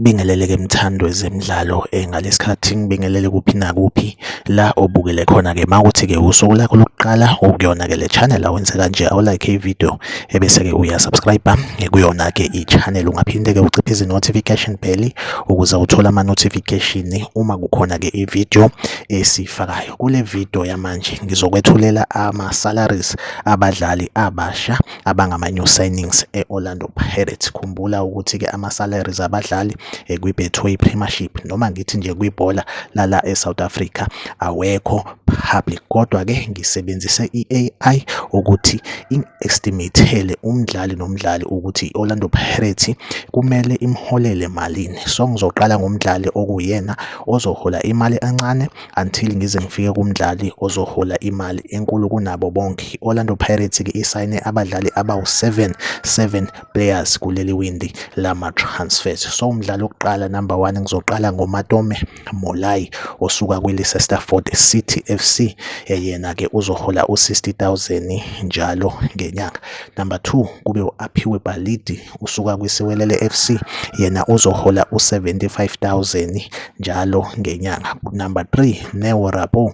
ngibingelele ke mthandwe zemidlalo eh, ngalesi khathi ngibingelele kuphi nakuphi la obukele khona ke mawuthi ke usuku lakho lokuqala ukuyona ke le channel awenze kanje awulike ivideo ebese-ke uyasubscribe kuyona-ke i-channel ungaphinde-ke uciphe izi-notification bell ukuze uthole ama-notification uma kukhona-ke i-video esiyifakayo kule video yamanje ngizokwethulela ama-salaries abadlali abasha abangama-new signings e-orlando pirates khumbula ukuthi-ke ama-salaries abadlali eh, kwi-betway premiership noma ngithi nje kwibhola lala e-south africa awekho public kodwa ke ngisebenzise i-AI ukuthi i-estimate-ele umdlali nomdlali ukuthi i-Orlando Pirates kumele imholele malini so ngizoqala ngomdlali okuyena ozohola imali encane until ngize ngifike kumdlali ozohola imali enkulu kunabo bonke i-Orlando Pirates ke isayine abadlali abawu-7 7 players kuleli windi lama-transfers so umdlali wokuqala number one ngizoqala ngomatome Molai osuka kwiLeicester City FC yena ke uzohola u60000 njalo ngenyanga. Number 2 kube uAphiwe Balidi usuka kwiSiwelele FC yena uzohola u75000 njalo ngenyanga. Number 3 Neo Rabo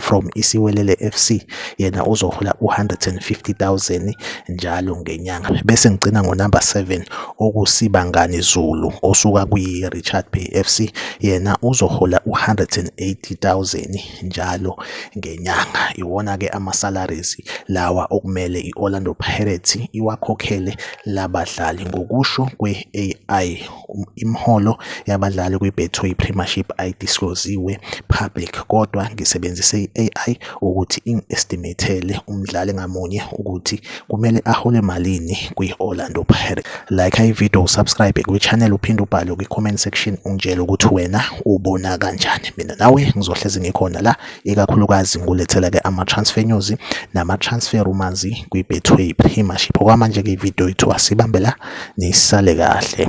from Isiwelele FC yena uzohola u-150,000 njalo ngenyanga bese ngigcina ngonumber 7 okusibangani Zulu osuka kwi-Richard Bay FC yena uzohola u-180,000 njalo ngenyanga iwona-ke ama-salaries lawa okumele i-Orlando Pirates iwakhokhele labadlali ngokusho kwe-AI Imiholo yabadlali kwiBetway Premiership ayidisclose-ziwe public kodwa ngisebenzise i-AI ukuthi ingi-estimate-ele umdlali ngamunye ukuthi kumele ahole malini kwi-Orlando Pirates. Like ividiyo, usubscribe kwi-channel uphinde ubhale kwi-comment section ungitshele ukuthi wena ubona kanjani. Mina nawe ngizohlezi ngikhona la. ikakhulukazi ngulethela ke ama-transfer news nama-transfer rumors kwi-betway premiership okwamanje-ke ividiyo yethu asibambela nisale kahle